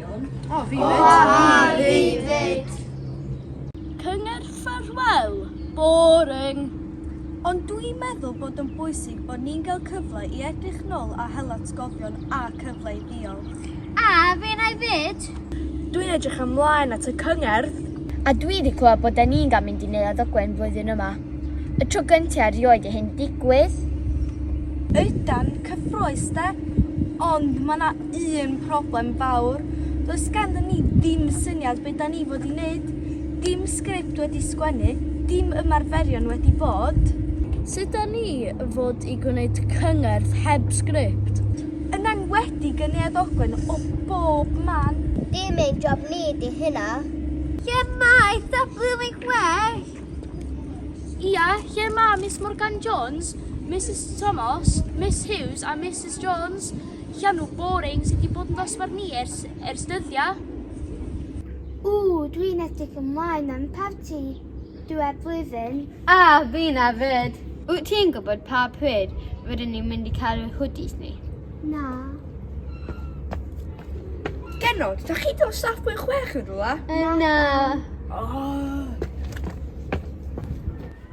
O, fi fyd. O, fi fyd. Cyngor ffarwel, boring. Ond dwi'n meddwl bod yn bwysig bod ni'n cael cyfle i edrych nôl a hel atgofion a cyfle i ddiolch. A fe na i fyd. Dwi'n edrych ymlaen at y cyngerdd. A dwi wedi clywed bod da ni'n cael mynd i Neuadd Ogwen flwyddyn yma. Y tro gyntaf erioed i hyn digwydd. Ydan, cyffroes de, ond mae yna un problem fawr, does ganddyn ni ddim syniad beth da ni fod i wneud, dim sgript wedi sgwennu, dim ymarferion wedi bod. Sut da ni fod i gwneud cyngerdd heb sgript? Yn enwedig yn Neuadd Ogwen o bob man! Dim ein job ni di hynna. Lle mae Eitha Blwyddyn Chwech? Ia, lle mae Miss Morgan Jones, Misus Tomos, Miss Hughes a Misus Jones? Llanw boring sy 'di bod yn ddosbarth ni ers ers dyddia. Ww, dwi'n edrych ymlaen am parti diwedd blwyddyn. A, fi na 'fyd! Wyt ti'n gwybod pa pryd rydyn ni'n mynd i cael yr hoodies ni? Na. Genod, da chi dod staff mwy chwech yn rhywle? Na. O!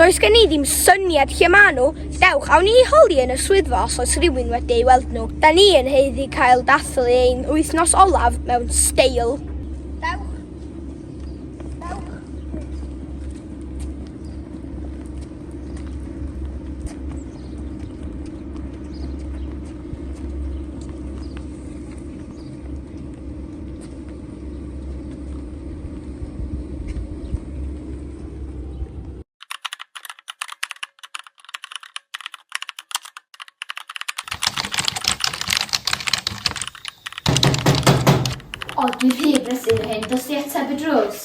Does gen i ddim syniad lle maen nhw, dewch, awn ni i holi yn y swyddfa os oes rhywun wedi ei weld nhw. Da ni yn haeddu cael dathlu ein wythnos olaf mewn steil. Ond dwi'n rhy brysur hyn, dos di ateb y drws.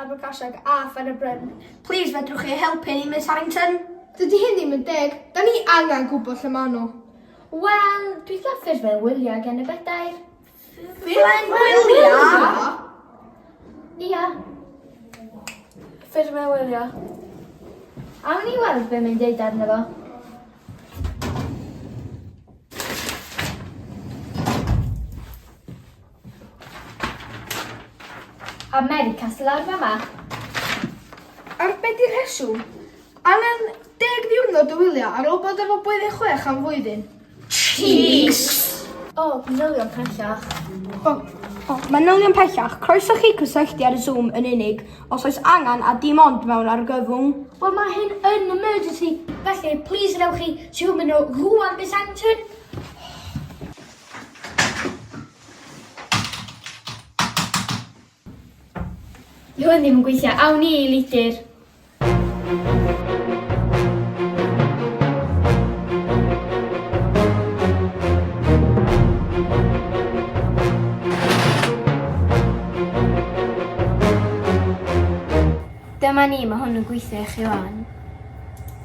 Abergasiad a Phen-y-bryn. Plis fedrwch chi helpu ni Miss Harrington? Dydy hyn ddim yn deg, da ni angen gwybod lle maen nhw. Wel, dwi'n fflaffios fel wyliau gen y bedair. Fel wyliau? Ia. Ffyrdd fel wyliau. Awn ni weld be mae'n deud arno fo. Americas lawr fama. Ar be di rheswm? Angen deg ddiwrnod o wylio ar ôl bod efo blwyddyn chwech am flwyddyn. Cheeks! O, oh, manylion pellach. O, oh, oh, manylion pellach. Croeso chi cysylltu ar y Zoom yn unig os oes angen a dim ond mewn argyfwng. Wel, mae hyn yn emergency, felly please rewch chi Zoom yn o rwan, Miss Anton. Yw hwn ddim yn gweithio. Awn ni i lidir. Dyma ni, mae hwn yn gweithio i chi wan.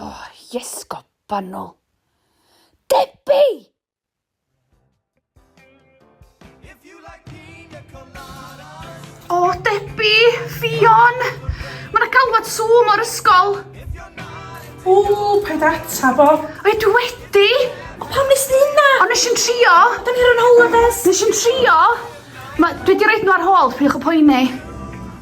O, yes, go banol. Debbie! O, Debbie, Fion! Mae yna galwad sŵm o'r ysgol. O, paid ata fo. O'i dwi wedi. O, pam nes di hynna? O, nes i'n trio. Da ni ar yn holidays. Nes i'n trio. Mae, dwi wedi rhaid nhw ar hôl, pwy'ch y poeni.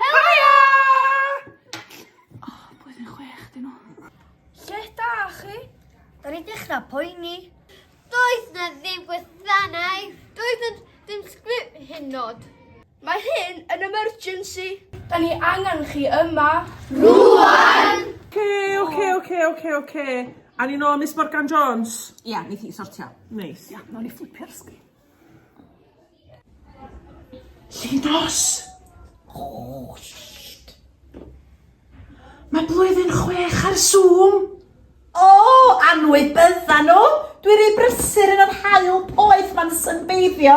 Helo! Oh, blwyddyn chwech dyn nhw. Lle da chi? Da ni'n dechrau poeni. Doedd na ddim gwasanaeth. Doedd na ddim sgrip hyn nod. Mae hyn yn emergency. Da ni angen chi yma. Rwan! Oce, oce, oce, oce, oce. A ni'n ôl Miss Morgan Jones? Ia, neith hi sortio. Neis. Ia, nawn ni fflipio'r sgrin. Llinos! Oh, shit. Mae blwyddyn chwech ar Zoom! O, oh, anwyd bydda nhw! Dwi'n rhy brysur yn yr hael poeth ma'n synbeiddio.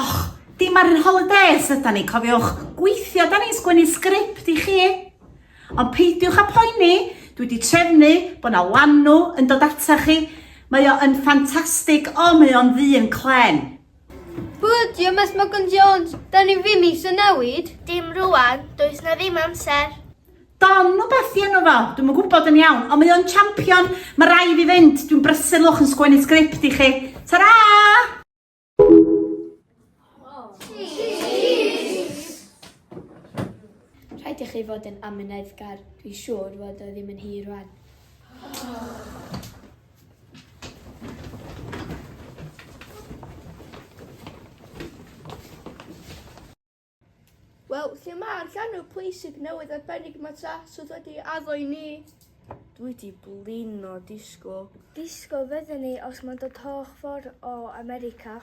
Och, dim ar yn holidays yda ni, cofiwch, gweithio da ni'n sgwennu sgript i chi. Ond peidiwch a poeni, dwi wedi trefnu bod na lanw yn dod ata chi. Mae o yn ffantastig, o mae o'n ddyn clen. Bwyddio Math Morgan Jones, da ni ddim eisiau newid. Dim rwan, does na ddim amser. Don nhw beth i enw fo, dwi'n yn gwybod yn iawn, ond mae o'n champion, mae rai fi fynd, dwi'n brysur lwch yn sgwennu sgript i chi. Ta-ra! Rhaid i chi fod yn amyneddgar, dwi'n siŵr fod o ddim yn hir rwan. Wel, lle mae'r llanw pwysig newydd arbennig mae Tras oedd wedi addo i ni? Dwi di blino disgo. Disgo fydden ni os mae'n dod holl ffordd o America.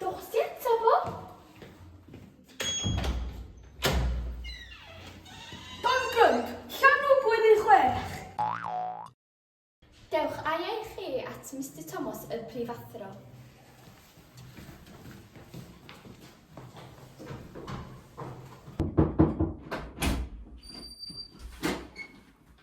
Dowch ti eto, Bob? Bangum, llanw bwyd ei chwech. Dewch ai ei chi at Mr Thomas y prifathro.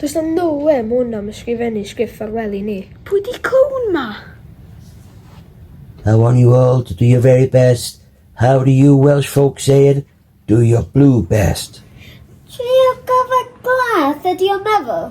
Does na no way ma hwn am ysgrifennu sgriff ffarwel i ni. Pwy di cwn ma? I want you all to do your very best. How do you Welsh folk say it? Do your blue best. Trio gofod glas ydi o'n meddwl?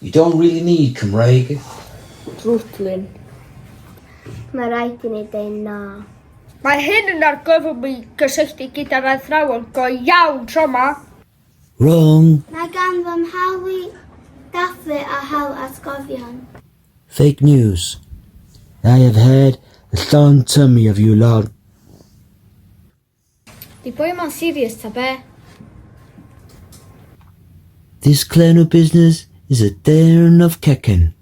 You don't really need Cymraeg if. Dwtlin. Mae rhaid i ni deud na. Mae hyn yn argyfwng mi gysylltu gyda'r athrawon go iawn tro ma. Wrong. Mae gan fy mhaw i dathlu a hel atgofion. Fake news. I have had a llon tummy of you lot. Di boi ma'n serious ta be? This clan of business is a darn of cacen.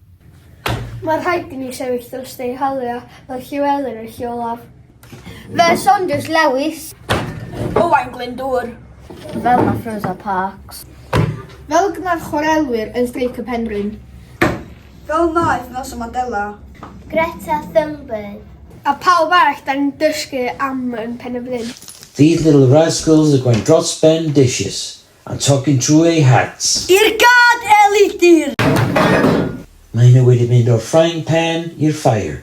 Mae rhaid i ni sefyll dros ei halu a mae Llewelyn yn lle olaf. Fel Saunders Lewis. Owain Glyndŵr. Fel mae Rosa Parks. Fel mae'r chwarelwyr yn streic y Penrhyn. Fel wnaeth Nelson Mandela. Greta Thunberg. A phawb arall dan ni'n dysgu am yn Pen y Bryn. These little rascals are going dros ben dishes and talking trwy eu hats! I'r gad, Elidir! Mae hynny wedi mynd o'r frying pan i'r fire.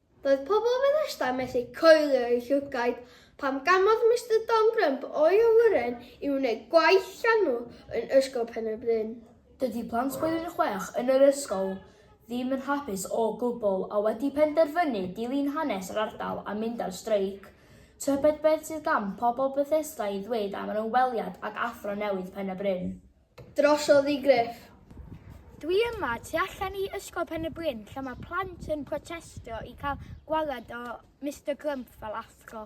Roedd pobl Bethesda methu coelio eu llygaid pan gamodd Mister Don Crump o'i awyren i wneud gwaith llanw yn Ysgol Pen-y-bryn. Dydy plant Blwyddyn Chwech yn yr ysgol ddim yn hapus o gwbl a wedi penderfynu dilyn hanes yr ardal a mynd ar streic. Tybed beth sydd gan pobl Bethesda i ddweud am yr ymweliad ag Athro newydd Pen-y-bryn? Drosodd i Griff. Dwi yma tu allan i Ysgol Pen-y-bryn lle mae plant yn protestio i cael gwared o Mister Grump fel athro.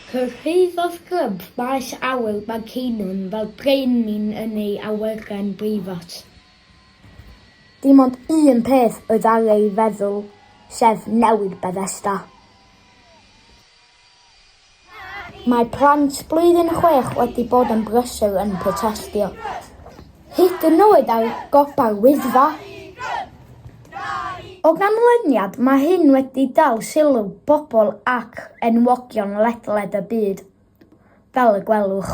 Cyrhaeddodd Grump maes awyr Manceinion fel brenin yn ei awyren breifat. Dim ond un peth oedd ar ei feddwl, sef newid Bethesda. Mae plant blwyddyn chwech wedi bod yn brysur yn protestio, hyd yn oed ar gopa'r Wyddfa. O ganlyniad, mae hyn wedi dal sylw pobl ac enwogion ledled y byd, fel y gwelwch.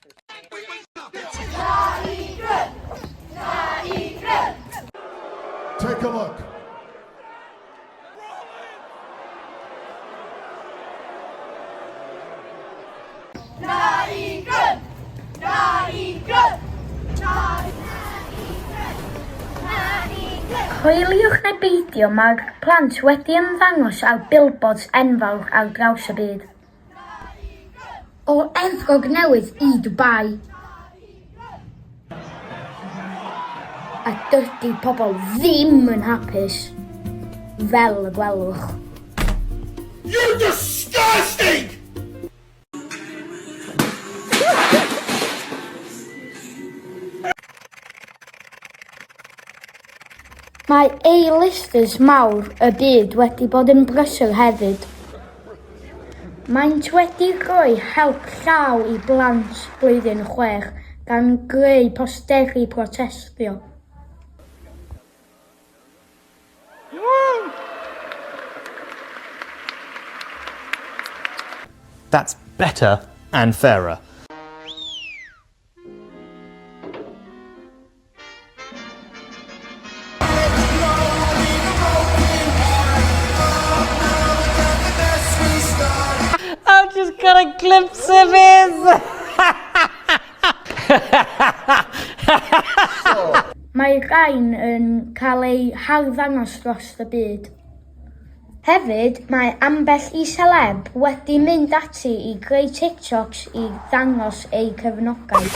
Take a look. Coeliwch neu beidio, mae'r plant wedi ymddangos ar billboards enfawr ar draws y byd. O Efrog Newydd i Dubai. A dydy pobl ddim yn hapus, fel y gwelwch. You're disgusting! Mae A-listers mawr y byd wedi bod yn brysur hefyd. Maent wedi rhoi help llaw i blant blwyddyn chwech gan greu posteri protestio. That's better and fairer. I've just got a glimpse of him! Mae rhain yn cael eu harddangos dros y byd. Hefyd, mae ambell i seleb wedi mynd ati i greu TikToks i ddangos eu cefnogaeth.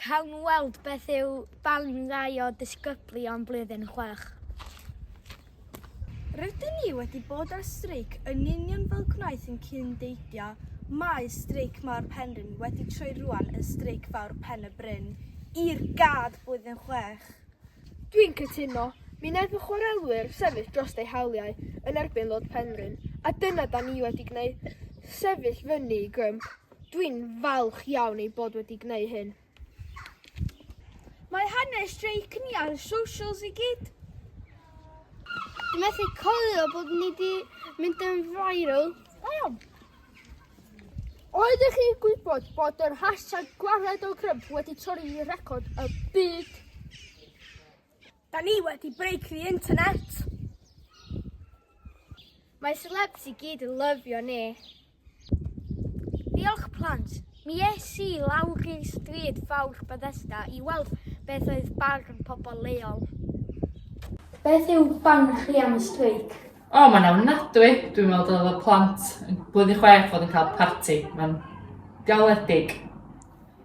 Cawn weld beth yw balun rai o ddisgyblion blwyddyn chwech. Rydyn ni wedi bod ar streic yn union fel gwnaeth yn cyn deidio, mae streic mawr Penrhyn wedi troi rwan yn streic fawr Pen y Bryn, i'r gad blwyddyn chwech. Dwi'n cytuno, mi wnaeth y chwarelwyr sefyll drost eu hawliau yn erbyn Lord Penrhyn, a dyna da ni wedi gwneud, sefyll fyny i grym. Dwi'n falch iawn ei bod wedi gwneud hyn. Mae hanes streic ni ar y socials i gyd. Dwi'n methu coelio bod ni wedi mynd yn viral. Da iawn. Oeddech chi'n gwybod bod yr hashtag gwared o grym wedi torri record y byd? Da ni wedi break the internet! Mae celebs i gyd yn lyfio ni. Diolch plant! Mi es i lawr i'r stryd fawr Bethesda i weld beth oedd barn pobl leol. Beth yw barn chi am y streic? O, mae'n ofnadwy! Dwi'n meddwl dylai fod plant yn Blwyddyn Chwech fod yn cael parti. Mae'n galedig.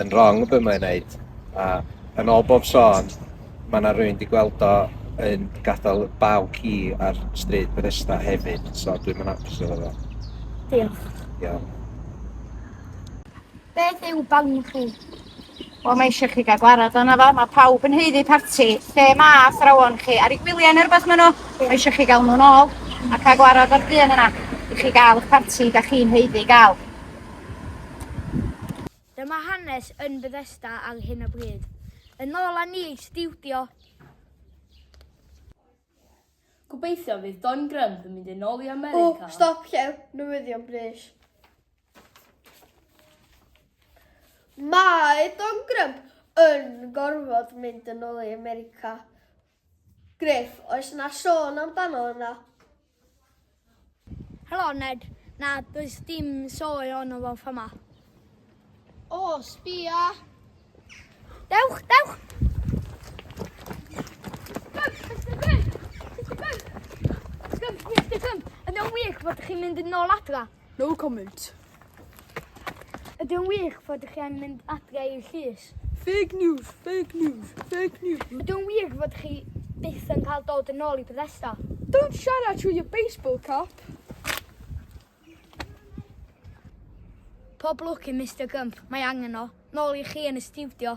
yn wrong be mae'n neud a yn ôl bob sôn mae yna rwy'n di gweld o yn gadael baw ci ar stryd Bethesda hefyd so dwi'n yn apus efo fo. Diolch. Iawn. Beth yw barn chi? Wel, mae eisiau chi gael gwarad o'na fo. Mae pawb yn heiddi parti. Lle mae athrawon chi? Ar ei gwyliau neu rhywbeth maen nhw? Mae eisiau chi gael nhw'n ôl a cael gwarad o'r dyn yna. I chi gael eich parti, da chi'n heiddi gael. Dyma hanes yn Bethesda ar hyn o bryd. Yn ôl â ni i stiwdio. Gobeithio fydd Don Grump yn mynd yn ôl i America. O, stop, llew, newyddion brys. Mae Don Grump yn gorfod mynd yn ôl i America. Griff, oes 'na sôn amdano yna? Helo Ned, na does dim sôn ono fo fama. O, sbia! Dewch, dewch! Yn wych bod chi'n mynd yn ôl adra. No comment. Ydy'n wych fod chi angen mynd adre i'r llys? Fake news, fake news, fake news. Ydy'n wir fod chi byth yn cael dod yn ôl i Bethesda? Don't siarad trwy y baseball cap. Pob lwc i Mister Gump, mae angen o. Nôl i chi yn y stiwdio.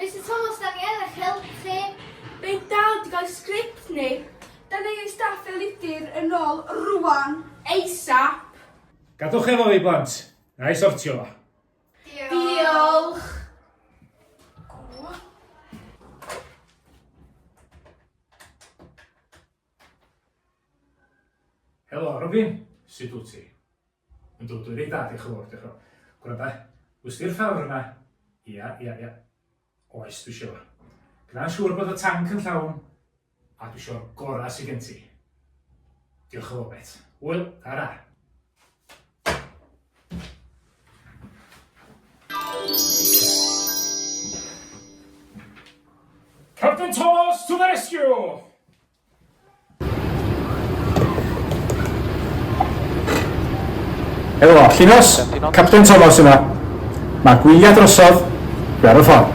Mister Thomas, da ni yn eich helpu chi. Fe dal di gael sgript ni. Da ni ei staff fel ydyr yn ôl rwan, ASAP. Gadwch efo fi, blant. Na i sortio fo. Diolch. Helo, Robin. Sut wyt ti? Yn dod o reit dda, diolch yn fawr, diolch yn fawr. Gwranda, wrth di'r llawr yna. Ia, ia, ia. Oes, dwi siwr. Gwna'n siŵr bod y tanc yn llawn, a dwi siwr gorau sy'n gen ti. Diolch yn fawr, met. Wyl, ara. Captain Thomas to the rescue! Helo, Llinos, Captain Thomas yma. Mae gwyliau drosodd, dwi ar y ffordd.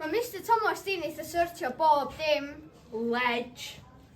Mae Mr Thomas di'n eitha sortio bob dim. Ledge.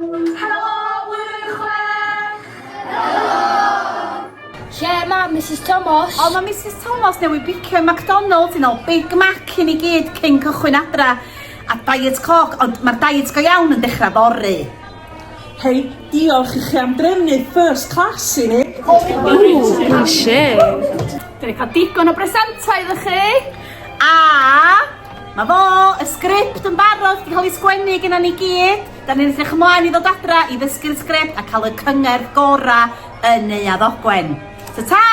Helo, blwyddyn chwech! Helo! Lle mae Mrs Thomas? O, mae Mrs Thomas newydd bicio i McDonald's yn ôl Big Mac i ni gyd cyn cychwyn adra. A diet coc, ond mae'r diet go iawn yn dechrau fory. Hei, diolch i chi am drefnu first class i ni. Ooh, shit. Dyn ni cael digon o bresentau iddo chi. A Mae fo! Y sgript yn barod, di cael ei sgwennu genna ni gyd. Da ni'n edrych ymlaen i ddod adra i ddysgu'r sgript a cael y cyngerdd gora yn Neuadd Ogwen. Ta ta!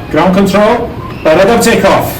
Ground control, barod am take off.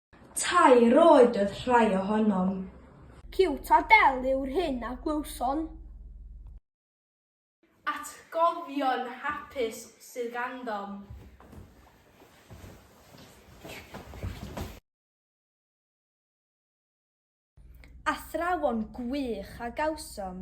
Tair oed oedd rhai ohonom. Ciwt a del yw'r hyn a glywson. Atgofion hapus sydd gandom. Athrawon gwych a gawsom.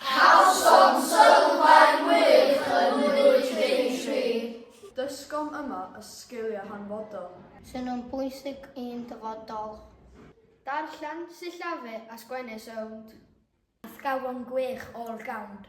Cawsom sylfaen wych yn Mlwydd Daintree. Dysgom yma y sgiliau hanfodol. Sy'n nhw'n bwysig i'n dyfodol. Darllen, sillafu a sgwennu sownd. Athrawon gwych all-round.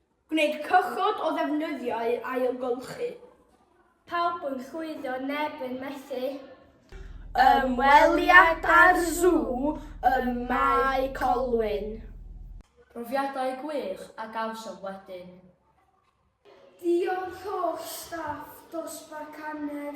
Gwneud cychod o ddefnyddio i ailgylchu. Pawb yn llwyddo, neb yn methu. Ymweliad â'r Sŵ ym Mae Colwyn. Profiadau gwych a gawsom wedyn. Diolch holl staff dosbarth canner.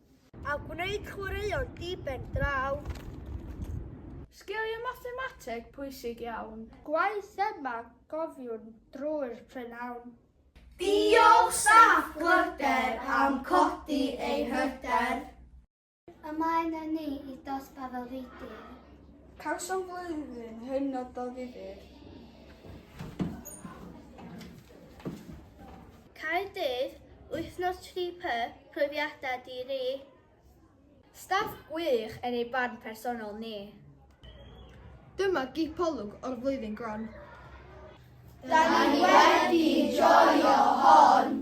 A gwneud chwaraeon diben draw. Sgiliau mathemateg pwysig iawn. Gwaith yma cofiwn drwy'r prynhawn. Diolch staff Glyder am codi ein hyder. Ymlaen â ni i dosbarth o fudr. Cawsom flwyddyn hynod o ddifyr. Caerdydd, wythnos tri py profiadau di ri. Staff gwych yn ei barn personol ni. Dyma gipolwg o'r flwyddyn gron. Da ni wedi joio hon!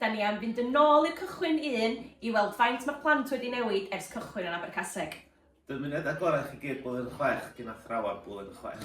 Da ni am fynd yn ôl i'r cychwyn un i weld faint mae'r plant wedi newid ers cychwyn yn Abercaseg. Dymuned agorau chi gyd blwyddyn chwech gin athrawon blwyddyn chwech.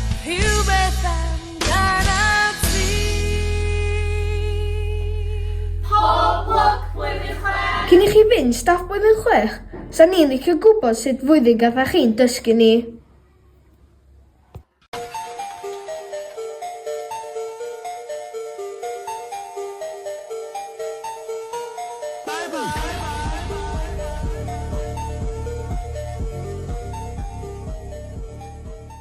Rhywbeth amdan a fi. Pob lwc blwyddyn chwech! Cyn i chi fynd staff blwyddyn chwech, sa ni'n licio gwybod sut flwyddyn gatha chi'n dysgu ni?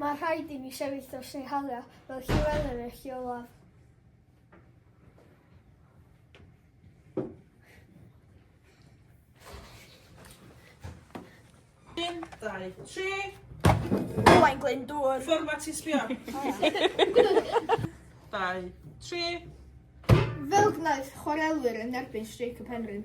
Mae rhaid i ni sefyll dros ei haliau fel Llewelyn yn eich olaf. Un, dau, tri. Owain Glyndŵr. Fformat ti sbio. Dau, tri. Fel gwnaeth chwarelwyr yn erbyn streic y penrhyn.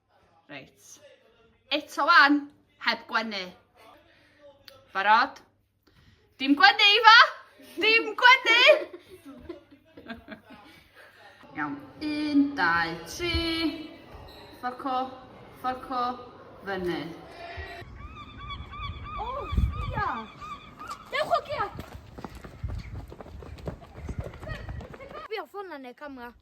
Reit. Eto wan, heb gwenu. Barod? Dim gwenu, Ifa! Dim gwenu! Iawn. Un, dau, tri. Fforco, fforco, fyny. O, oh, sbia! Dewch o gia! Sbia ffona neu camera.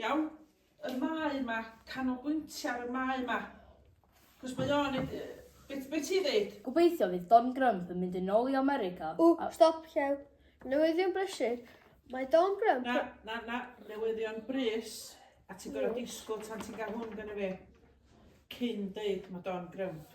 Iawn? Y mae yma, canolbwyntio ar y mae yma. Cos mae o'n... Beth be ti'n ddeud? Gobeithio fydd Don Grump yn mynd yn ôl i America. O, stop, llew. Newyddion brysur. Mae Don Grump... Na, na, na, newyddion brys. A ti'n gorau disgwyl tan ti'n cael hwn gan y fe. Cyn deud mae Don Grump.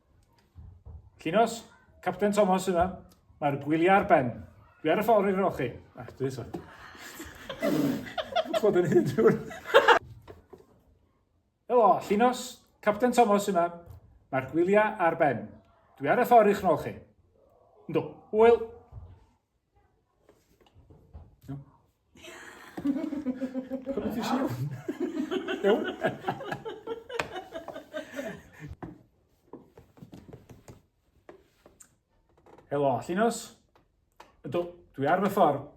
Llinos, Capten Thomas yna. Mae'r gwyliau ar ben. Dwi ar y ffordd i'r rochi. Ac ah, dwi eto. Chod yn hyn drwy'r... Helo, Llinos, Capten Thomas yna. Mae'r gwyliau ar ben. Dwi ar y ffordd i'ch nol chi. Ynddo, hwyl. Helo, Llinos. Ydw, dwi ar fy ffordd.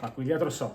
Mae gwyliau drosodd.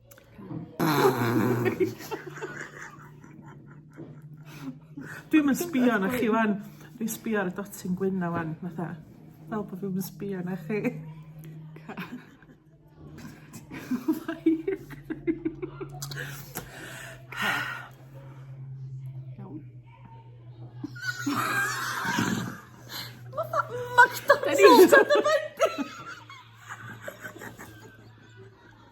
Dwi'm yn sbio arnoch chi 'wan. Dwi sbio ar y dotyn gwyn 'na 'wan fatha fel bo' fi'm yn sbio arna chi. Iawn. Ma' fe mor...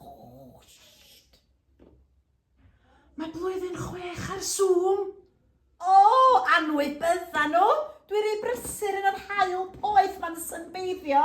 Ghost. Mae blwyddyn chwech ar Zoom. O, anwybydda nhw. Dwi rei brysur yn yr hael poeth ma'n synbeiddio.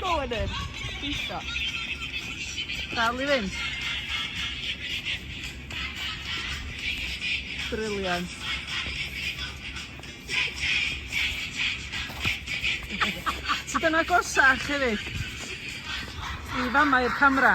Go on then. Pwyso. Dal i fynd. Brilliant. So dyna gorsach hefyd i famau'r camera.